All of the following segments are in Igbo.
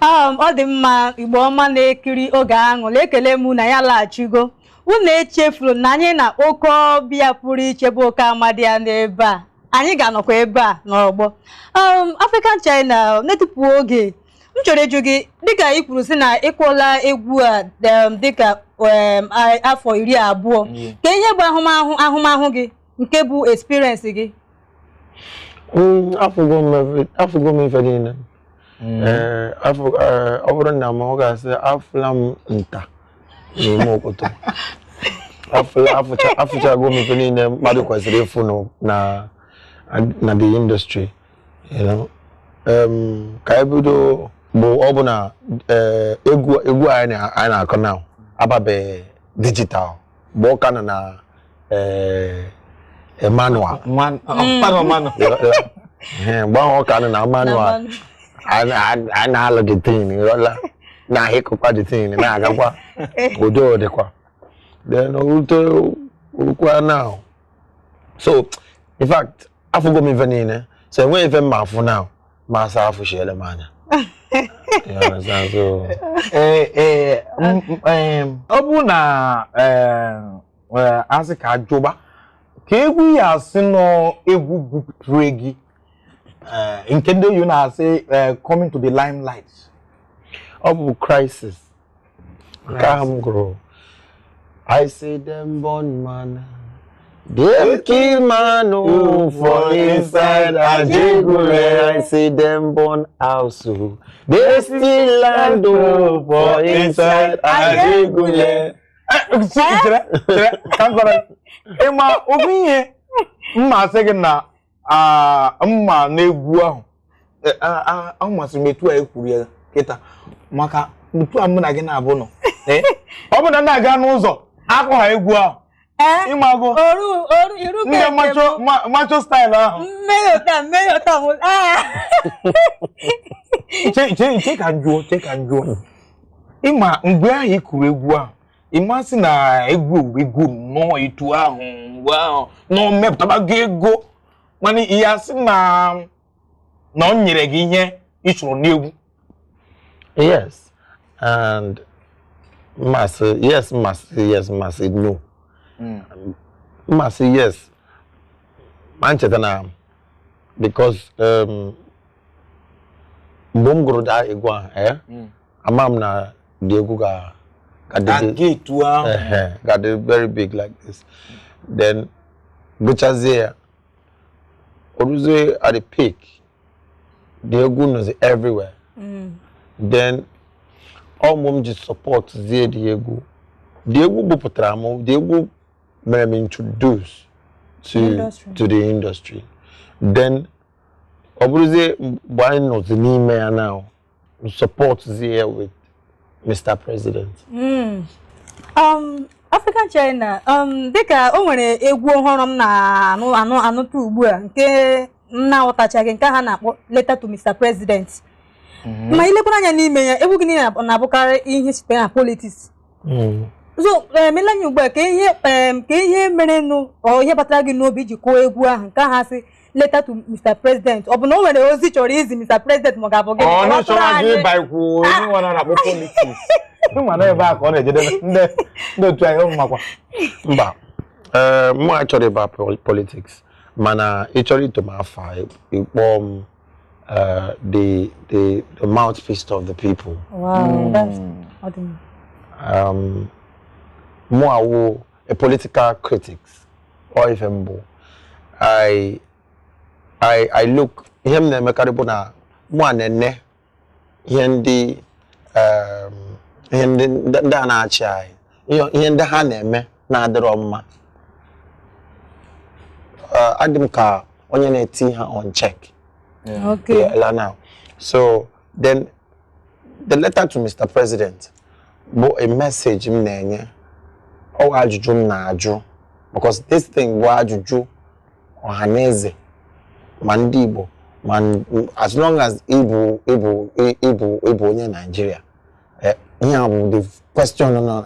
Um, ọ dị mma Igbo ọma na-ekiri oge aṅụrị ekele m na ya laghachigo unu echefuru na anyị na oke ọbịa pụrụ iche bụ oke amadi ya n'ebe a anyị ga-anọkwa ebe a n'ọgbọ um, African China na-etufughị oge m chọrọ ịjụ gị dịka ị kwuru sị na ị kụọla egwu a um, dịka um, a- afọ iri abụọ Yeah. ka ihe bụ ahụmahụ ahụmahụ gị nke bụ experience gị Mm, afụgo m efe- afụgo m ife niile Mm. Ee, afọ- ee, ọ bụrụ nna m ọ ga-asị afụla m nta na imo okoto afụla afụcha afụchago m ife niile mmadụ kwesịrị ịfụ nụ na na the industry you know. Em, ka anyị bido bụ ọ bụ na ee, egwu egwu anyị na- anyị na-akụ na ababeghị digital mgbe ọ ka nọ na eh, manual ọ- Mm. manual manual. Ee, mgbe ahụ ọ ka nọ na manual a na- a- a na-alụ the thing ịghọla na-ahịkọkwa the thing na-agakwa udo dịkwa then o rute o rukwa now so in fact afụgo m ife niile so enweghị ife m ma-afụ now ma asị afụshiele m anya ọ bụrụ na a sị ka a jụba ka egwu ị ya-asị na ọ egwu bupụtara gị nke ndị oyibo na-asị coming to the limelight ọ bụ Crisis nke ahụ m gụrụ I see them burn man Dem kill man o oh, for inside Ajegunle I see them burn house o oh. They steal land o oh, for inside Ajegunle. Chere chere ka m gwa gị ị ma ofu ihe m ma-asị gị na mma n'egwu ahụ e, ọ masịrị m etu a i kwuru ya kịta maka otu a mụ na gị na-abụ nọ e, ọ bụ na na-aga n'ụzọ akụ ha egwu ahụ e, ị mago ndị macho style ahụ chee ka m jụọ chee ka m jụọ ị ma mgbe ahụ ị kụrụ egwu ahụ ị ma-asị na egwu egwu nnọọ etu ahụ mgbe ahụ na o mepụtabaghị ego mana ị ya-asị na na o nyere gị ihe ị chọrọ n'egwu yes and m ma-asị yes m ma-asị yes m ma-asị no hmm. m ma-asị yes ma m cheta na because um, mgbe m gụrụ that egwu ahụ eh? hmm. ama m na the egwu ga ga-adị very big like this then gụchazie ya o ruzie at the peak the egwu nọzi everywhere mm. then ọ mụ m ji support zie the egwu the egwu bupụtara m the egwu mere m introduce to to the industry then ọ bụrụzie mgbe anyị nọzi n'ime ya now support there with Mr. President. Mm. Um, African China um, dịka o nwere egwu ọhụrụ m na-anụ anụ anụta ugbu a nke m na-aghọtachaghị nke ha na-akpọ letter to Mr. President mm-hmm. ma i lekwara anya n'ime ya egwu gị na-abụkarị ihe site na politics mm. so emela anya ugbu a ka ihe ka ihe merenụ ọ ihe batara gị n'obi iji kụọ egwu ahụ nke ha sị letter to Mr. President ọ bụ na o nwere ozi ị chọrọ izi Mr. President ma ọ ga-abụ gịnị ọ na-achọrọ anyị ịba ikwu onye nwa na-akpọ politics ị ma na ebe a ka ọ na-ejedebe ndị otu anyị ụmụ makwa mba ee mụ achọrọ ịba politics mana ị chọrọ ito m afa ị kpọọ m uh, the the the mouthpiece of the people. Wow, mm. that's, um, mụwa wụ a political critics or ife m bụ I I I look ihe m na-emekarị bụ na mụwa na-ene ihe ndị um, ihe ndị ndị ndị a na-achị anyị ihe- ihe ndị ha na-eme na-adịrọ mma Uh, adị m ka onye na-eti ha on check Okay. Yeah, now. So then the letter to Mr. President bụ a message m na-enye ọ wụ ajụjụ m na-ajụ because this thing bụ ajụjụ ọha na eze ma ndị Igbo ma as long as ị bụ ị bụ ị bụ ị bụ onye Naijiria eh, ihe a bụ the question nọ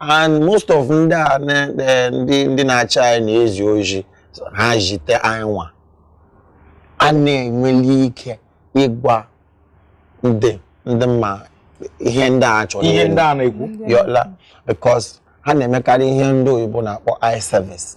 and most of ndị a na- eh, ndị ndị na-achị anyị na-ezi ozi ha zite anyị nwa a na-enweli ike ịgwa ndị ndị mma ihe ndị a chọrọ ihe ịnụ. ndị a na-ekwu ihe ọ wụla because ha na-emekarị ihe ndị oyibo na-akpọ eye service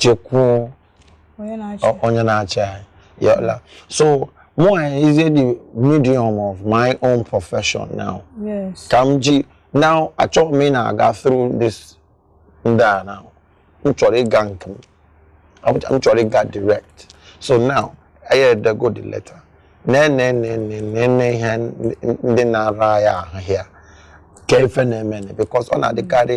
jekwuo onye na-achị anyị ihe ọ wụla so mụwa ejizie the medium of my own profession now ka m ji now achọghị m ịna-aga through this ndị a now m chọrọ ịga nke m m chọrọ ịga direct so now anyị edego the letter na-enenenenene ihe ndị na-ara ya ahụ ya ka ife na-eme because ọ na-adịkarị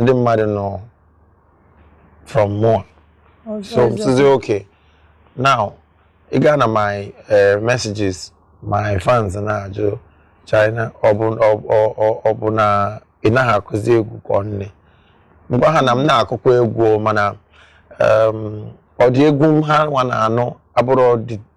ndị mmadụ nọ from mụa so m sịzi okay now ị gaa na my eh, messages my fans na-ajụ China ọ bụ na ị naghị akụzi egwu ka ọ gịnị m gwa ha na m na-akụkwa egwu mana ụdị egwu ha nwa na-anụ abụrọ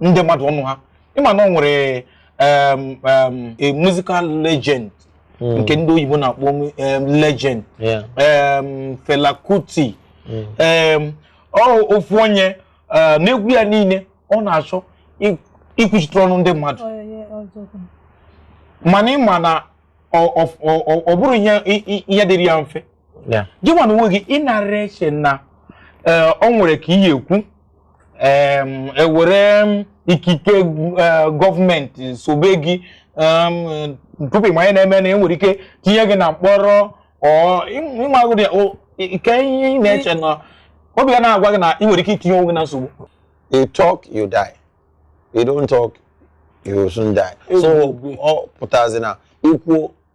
ndị mmadụ ọnụ ha ịma na ọ nwere um, um, a musical legend Mm. nke ndị oyibo na-akpọ um, legend Yeah. um, Fela Kuti Mm. um, ọ ofu onye uh, n'egwu ya niile ọ na-achọ i- ikwuchitere ọnụ ndị mmadụ Oh, yeah, yeah, ọzọ kwa. mana ịma na ọ- ọ- ọ- ọ bụrọ ihe i- i- ihe dịrị ya mfe Yeah. gị nwa na onwe gị ịnara eche na eh, o nwere ka ị ya-ekwu em, ewere ikike eh, gọọmenti sobe gị em, tupu ịma ihe na-eme na enwere ike tinye gị na mkpọrọ ọ ịmagụdị ike ihe ị na-eche na obi ya na-agwa gị na ị nwere ike itinye onwe gị na nsogbu You talk, you die. You don't talk, you soon die. So Ebube. ọ pụtazi na ikwu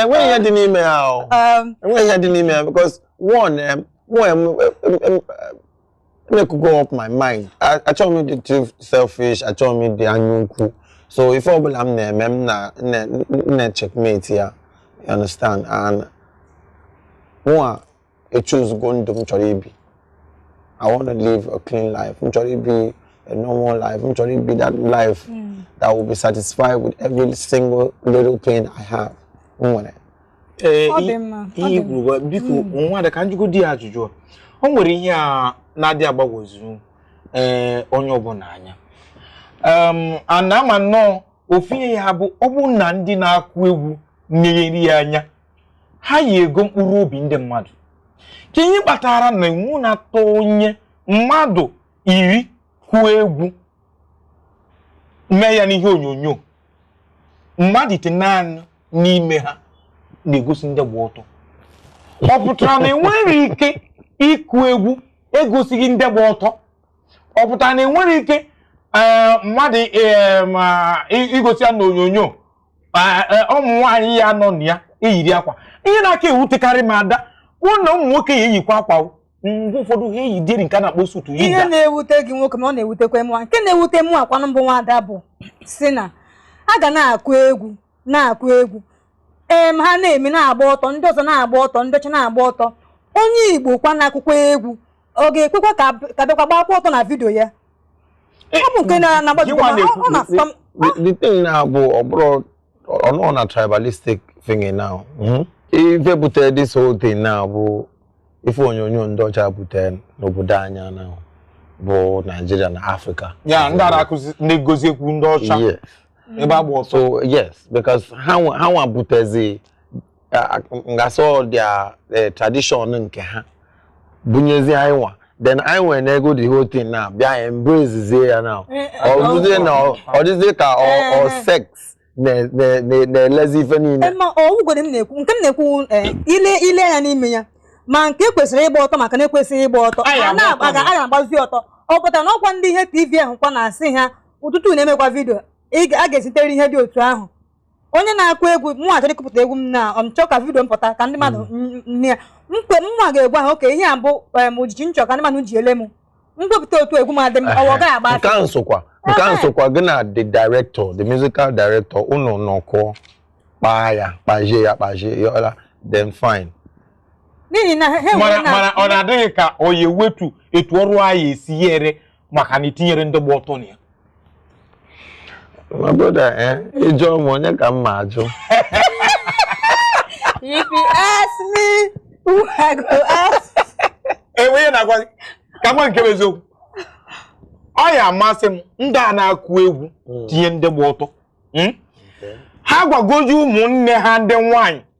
enweghị ihe dị n'ime ya o um, enweghị ihe dị n'ime ya because one m makego up my mind achọghị m ịdị too selfish achọghị m ịdị anya ukwu so ife ọbụla m na-eme m na-checkmate ya you understand and mụa echoosego ndụ m chọrọ ibi I want to live a clean life m chọrọ ibi a normal life m chọrọ ibi that life hmm. that will be satisfied with every single little penny I have m nwere ihe kwuru biko hmm. nwada ka m jụgodi ya ajụjụ o nwere ihe a na-adị agbagwoju ee eh, onye ọbụla anya ana ama nnọọ ofu ihe ya bụ ọ bụ na ndị na-akụ egwu meghere ya anya ha yi ego mkpụrụ obi ndị mmadụ kee ihe kpatara na iwu na-atọ onye mmadụ iri kụọ egwu mee ya n'ihe onyonyo mmadụ itenaanị n'ime ha na-egosi ndị gba ọtọ ọ pụtara na enwere ike ịkụ egwu egosighị ndị gba ọtọ ọ pụtara na enwere ike eh, mmadụ eh, igosi ya n'onyonyo a- e, ụmụ nwaanyị ya nọ na ya eyiri akwa ihe na-aka ewutekarị m Ada bụ na ụmụ nwoke ya eyikwa akwa o. mgbe ụfọdụ ha eyidịrị nke a na-akpọ suit ihe na-ewute gị nwoke m ọ na-ewutekwa mụnwa nke na-ewute mụakwanụ bụ nwada bụ si na a ga na-akụ egwu na-akụ egwu ee ma ha na-eme na-agba ọtọ ndị ọzọ na-agba ọtọ ndị ọcha na-agba ọtọ onye Igbo kwa na-akụkwa egwu ọ ga-ekwekwa ka ka bịakwa gbakwa ọtọ na vidio ya the thing now bụ ọ bụrọ ọnụ na tribalistic thing now hmm? ife butere this whole thing now bụ ife onyonyo ndị ọcha butere n'obodo anyị a na bụ Nigeria na Africa ya ndị na-akụzi ndị gozi ekwu ndị ọcha ebe agba ọtọ so yes because ha nwa butezi ngasị their e, tradition nke ha bunyezi anyị nwa then anyị wee nego the whole thing now bịa embracezie ya now eh, eh, o ruzie na ọ dịzie ka ọ eh. sex na-elezi ife niile ma ọgwụgwere m na-ekwu nke m na-ekwu i lee anya n'ime ya ma nke kwesịrị ịgba ọtọ ma nke na-ekwesịghị ịgba ọtọ a na-agbazi ọtọ ọ pụtara na ọkwa ndị ihe tv ahụ kwa na-asị ha ụtụtụ na-emekwa vidio a ga-ezitere ihe dị otu ahụ onye na-akụ egwu mụnwa chọrọ ịkụpụta egwu m na m chọọ ka vidio m pụta ka ndị mmadụ n- nne ya mkpe mụnwa ga-egwu ahụ okay ihe a bụ image m chọ ka ndị mmadụ ji ele m m wepụta otu egwu m a dị m ọwa ọ gaghị agba nke afọ ahụ sokwa nke ahụ Ehe. sokwa gị na the director the musical director unu nọkọ kpaa ya kpazie ya kpazie ya ọla then fine n'ihi na ha enwere mana na mana ọ na-adị gị ka ọ ya-ewetu etu ọrụ anyị esi ya ere maka na i tinyere ndị gba ọtọ na ya my brother eh ị jụọ m onye ka m ma ajụ if you ask me who i go ask enwe ihe na-agwa gị ka nwa nke bụ eziokwu ọ ya-amasị m ndị a na-akụ egwu tinye ndị gba ọtọ Hmm? ha gwagodu ụmụnne ha ndị nwanyị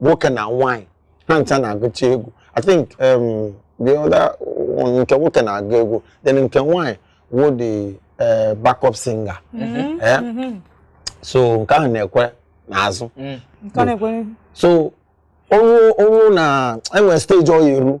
nwoke na nwaanyị ha ncha na-agụcha egwu i think um, the other one nke nwoke na-agụ egwu then nke nwaanyị wo the uh, backup singer mm-hmm. Eh? Mm-hmm. so nke ahụ na-ekwe n'azụ mm. so o ru na e nwe stage ọ ya-eru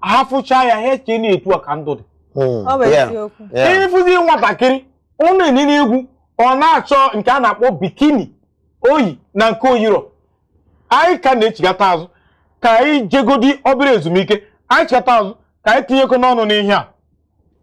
ha fụcha ya ha eche na etu a ka ndụ dị hmm. ị fụzi nwatakịrị ọ na-enene egwu ọ na-achọ nke a na-akpọ bikini o yi na nke o yirọ anyị ka na-echigata azụ ka anyị jegodi obere ezumike anyị chigata azụ ka anyị tinyekọ ọnụ n'ihe a